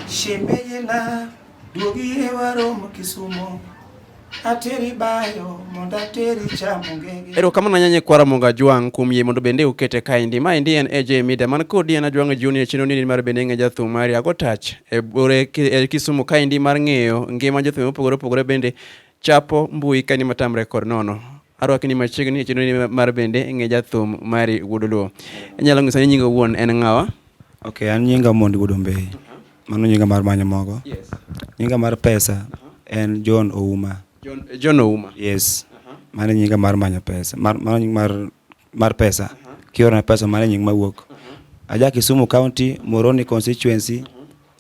Shemeji na duogi e waromo Kisumo ateri bayo mondo ateri chamo ngege. Erokamano anyanye kwara Monga Jwang' kuom yie mondo bende ukete kaendi. Ma endi en AJ Media man kodi en Ajwang' Junior chino nini mar bende ng'e jathum mari ago touch e bore e Kisumu kaendi mar ng'eyo ngima jothum mopogore opogore bende chapo mbui kani matamre kod nono. Arwaki ni machiegni e chenro ni mar bende ng'e jathum mari Wuod Luo. Inyalo ng'iso ni nyinga wuon en ng'awa? Ok, an nyinga Mondi Wuod Ombei. Mano nyinga mar manyo mogo. Yes. Nyinga mar pesa en John Ouma. John, John Ouma. Yes. Mano nyinga mar manyo pesa. Mar, mano nying mar mar pesa. Kiorona pesa mano nying mawuok. Aja Kisumu County, Moroni constituency,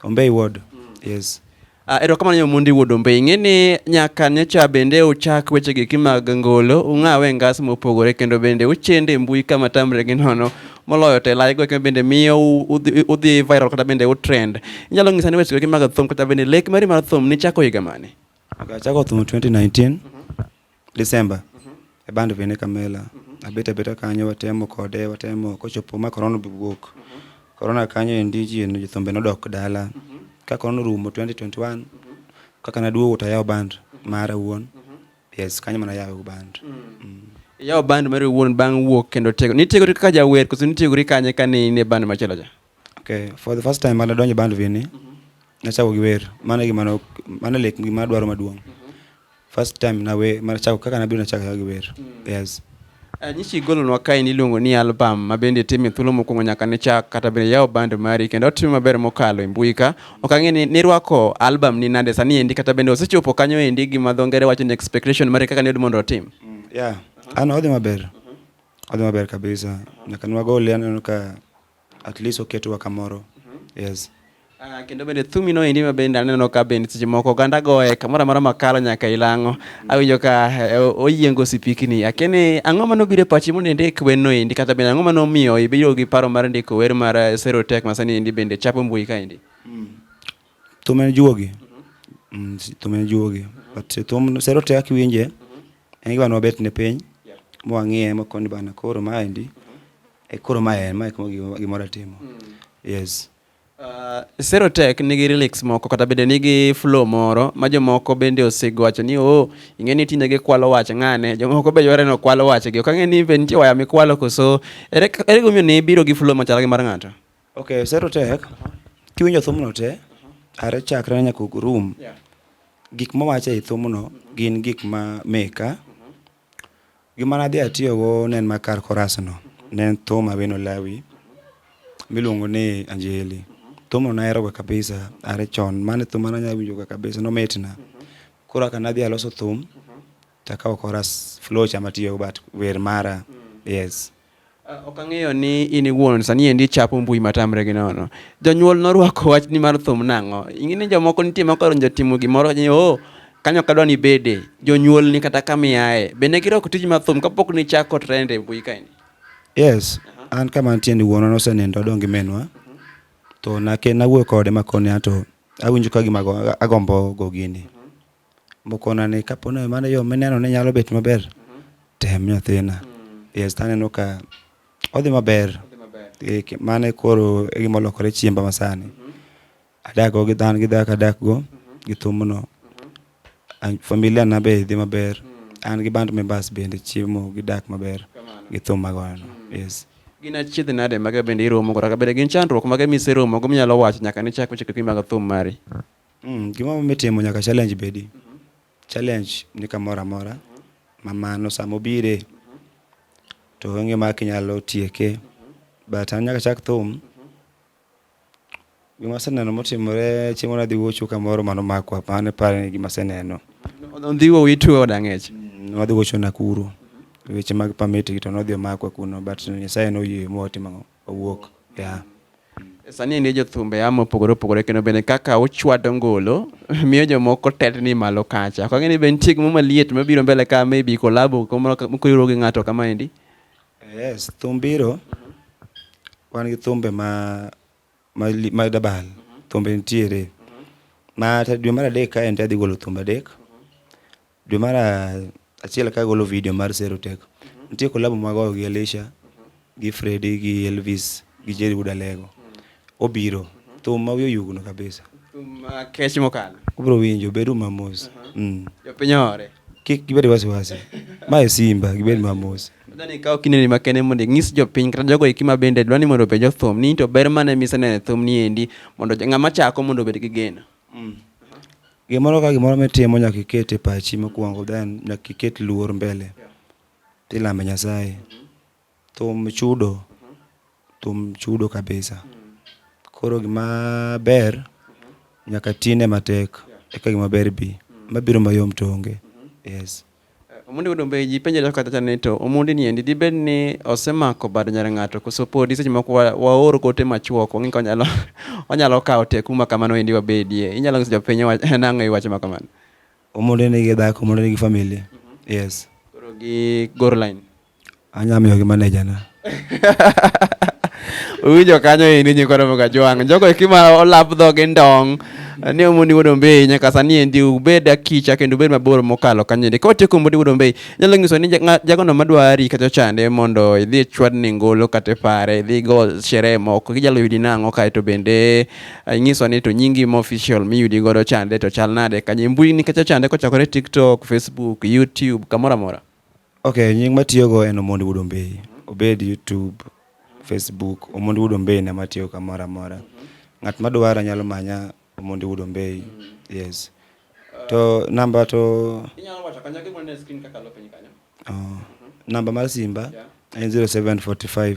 Ombei ward. Yes. Uh, erokamano nyamundi wuod ombe ing'e ni nyaka nyocha bende uchak wechegeki mag ngolo ung'awe ngas mopogore kendo bende uchende e mbui kama tamre gi nono moloyo to e live goeko bende miyo u- udhi udhi viral kata bende utrend inyalo ng'isa ni wechegeki mag thum kata bende lek mari mar thum nichako higa mane Achako thum 2019 December e band bende Kamela abet abeta kanyo watemo kode watemo kochopo ma corona be wuok corona kanyo endi ji jothumbe nodok dala ka corona orumo 2021 kaka naduogo to ayawo band mara wuon yes kanyo mana ayawo band Iyawo band mari wuon bang' wuok kendo tego. Nitiegori kaka jawer koso nitiegori kanye kane in e band machielo cha? Okay, for the first time mane adonjo e band Vini, nachako gi wer. Mano e gima no, mano e like gima adwaro maduong'. First time nawe, mane achako kaka nabiro nachako achako gi wer. Yes. Eh, Nyichi igolonwa kae niluongo ni album ma bende itimo e thuolo mokwongo nyaka ne chak kata bende yawo band mari kendo otimo maber mokalo e mbui ka. Ok ang'e ni nirwako album ni nade sani endi kata bende osechopo kanyo endi gi ma dho ngere wacho ni expectation mari kaka niyud mondo otim. Yeah. Ano odhi maber. Odhi maber kabisa. Nyaka nwagole aneno ka At least oketwa kamoro. Yes. Ah, kendo bende thumi no endi ma bende aneno ka bende seche moko oganda goye kamoro amora makalo nyaka ilang'o awinjo ka eh, oyiengo sipikni akeni ang'o mane obiro e pachi mondo indik wer no endi kata bende ang'o mane omiyo ibiro gi paro mar ndiko wer mar eh, Zero Tech ma sani endi bende chapo mbui ka endi Thum en juogi. Mm, si- Thum en juogi. But eh, thum sero te kaka iwinje. En gima ne wabet ne piny. Mwang'iye makoni bana koro maendi. E koro ma en, ma e gima ratimo. Mm. Yes. Uh, Serotech nigi relics moko kata bende nigi flow moro ma jomoko bende osego wacho ni oh, ing'e ni tinde gikwalo wach ng'ane jomoko be yware ni okwalo wachgi ok ang'e ni be nitie waya mikwalo koso ere gimomiyo ne ibiro gi flow machal gi mar ng'ato ok Serotech kiwinjo thumno te are chakre nyaka room gik mowacho e thumno gin gik ma meka Gima nadhi atiyogo ne en ma kar korasno, ne en thum Awino Lawi miluongo ni Anjeli. Thumno naheroga kabisa are chon, mano e thum mane anyalo winjoga kabisa nomitna. Koro kaka nadhi aloso thum takawo koras, flow cha matiyogo but wer mara, yes. Ok ang'eyo ni in iwuon sani endi ichapo mbui matamre gi nono. Jonyuol norwako wachni mar thum nang'o? Ing'e ni jomoko nitie ma kodonjo timo gimoro ni oh, kanyo kadwa ni bede. Jonyuol ni kata kama iaye. Be ne girwako tij mar thum kapok ni chako trend e mbui kaendi? Yes. An kama nitie ni wuonwa nosenindo adong' gi minwa. To nake nawuoyo kode makone ato awinjo ka gima agombo go gini. Mokona ni kapo ni mano yo mineno ni nyalo bet maber, tem nyathina. Yes, taneno ka odhi maber. Eh, ki- Mano e koro e gima olokore chiemba masani. Adak go gi dhan gi dhako adak go gi thumno. An- Familia na be dhi maber. An gi band members bende chiemo gi dak maber gi thum magoyono. Yes. Gin achiedh nade mage bende iromo kata bende gin chandruok mage miseromo go minyalo wacho nyaka nichak weche kaki mag thum mari? Mm, gima mitimo nyaka challenge bedi. Challenge ni kamoro amora ma mano sama obire to onge ma kinyalo tieke but an nyaka chak thum gima aseneno motimore chieng' moro adhi wuocho kamoro mano makwa mano e pare ni gima aseneno ondhiwo wituo od ang'ech Mm, wadhi wuocho Nakuru weche mag permit gi to nodhi omakwa kuno but Nyasaye noyie mowatimo ang'o owuok e a. Sani en jo thumbe a mopogore opogore kendo bende kaka ochwado ngolo miyo jomoko tetni malo kacha. Ok ang'e ni be nitie gimoro maliet mabiro mbele ka maybe kolabo mokoriwruok gi ng'ato kama endi. Yes, thum biro. Wan gi thumbe ma ma ma dabal. Thumbe nitiere. Ma dwe mar adek kae en adhi golo thumbe adek. Dwe mar achiel ka agolo video mar Sero Tek, nitie kolabo magoyo gi Elisha, gi Fredi, gi Elvis, gi Jerry Wood Alego. Obiro, thum ma wiye oyugno kabisa. Thum ma kech mokalo. Ubiro winjo, bedu mamos. Mm. Jopiny ohore. Kik gibed wasiwasi. Ma e Simba, gibed mamos. Adwani ikaw kindeni makende mondo inyis jopiny kata jogo eki ma bende dwa ni mondo openj thum ni to ber mane miseneno e thum ni endi mondo ng'ama chako mondo obed gi geno. Mm. Gimoro ka gimoro mitimo nyaka iket e pachi mokwongo then nyaka iket luor mbele. Yeah. Tilame Nyasaye. Mm -hmm. Thum chudo. Mm -hmm. Thum chudo kabisa. Mm -hmm. Koro gima ber mm -hmm. nyaka tine matek yeah. eka gima ber bi. Mm -hmm. Mabiro mayom to onge. Mm -hmm. Yes. Omondi wuod Ombe ji penjore kaka chacha ni to Omondi ni endi dibed ni osemako bad nyar ng'ato koso podi seche moko waor gote machuok wang'e ka onyalo onyalo kawo tek kuma kamano endi wabedie. Inyalo nyiso jopiny nang'o e wach ma kamano? Omondi nigi dhako, Omondi nigi familia. Yes. Koro gi gor line. Anya miyo gi manager na. Uwinjo kanyo e ni nyikwa romo gajwang'. Jogo e kima olap dhogi ndong'. Ni omoni wuod ombei nyaka sani endi ubed akicha kendo ubed mabor mokalo kanyo endi. Ka watieko omodi wuod ombei, inyalo nyiso ni jagono madwari kata ochande mondo idhi e chwadni ngolo kata e pare, idhi go sherehe moko. Inyalo yudi nang'o kae to bende eh, inyiso ni to nyingi ma official miyudi godo chande to chal nade kanye. Mbui ni kacha chande kochakore TikTok, Facebook, YouTube, kamoro amora. Ok, nying matiyogo en Omondi Wuod Ombeyi. Obed YouTube, Facebook, Omondi Wuod Ombeyi na matiyo kamoro amora. Ng'at madwara nyalo manya Omondi Wuod Ombeyi. Yes. To namba to... Inyalo wacho kanyo gimoro ne screen kakalo piny kanyo. Oh. Namba mar simba en 0745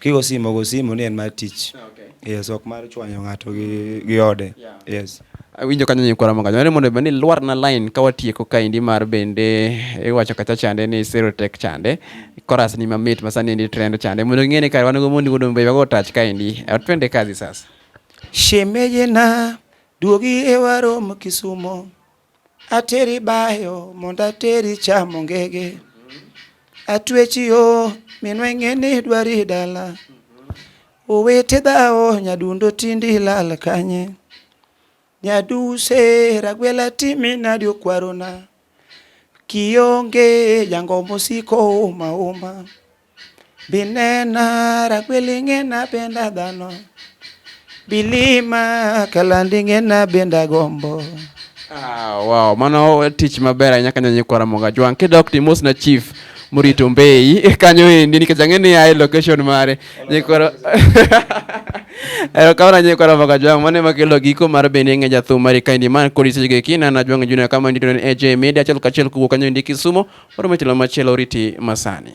Kigo simo go simo ni en mar tich. Yes, ok mar chwanyo ng'ato gi, gi ode. Yes. awinjo kanyo nyi kwara makajo mondo bende lwar na line ka watieko kaendi mar bende iwacho kacha chande ni serotech chande chorus ni mamit masani endi trend chande mondo ing'e ni kare wan go mondi go dombe go touch kaendi Eh, twende kazi sasa Shemeje na duogi e warom Kisumo. Ateri bayo mondo ateri chamo ngege, atwechi yo minwe ng'eni dwari dala, owete dhawo nyadundo tindi lal kanye, nyaduse ragwela timi nadi okwarona, kionge jango mosiko uma uma. Binena rakweli ng'ena benda dhano Bilima kalandi ng'ena benda gombo Ah, wow, mano tich maber ahinya kanyo nyikwa Ramoga Jwang. Kidok to imosna chief morito Mbeyi kanyo endi nikech ang'e ni ae location mare. Nyikwa Erokamano nyikwa Ramoga Jwang. Mano ema kelo giko mar bendi ng'e jathum mari kaendi man kod isechego eki nana Jwang Junior kama ndito en AJ Media achiel kachiel kowuok kanyo endi Kisumo. Oro motelo machielo oriti masani.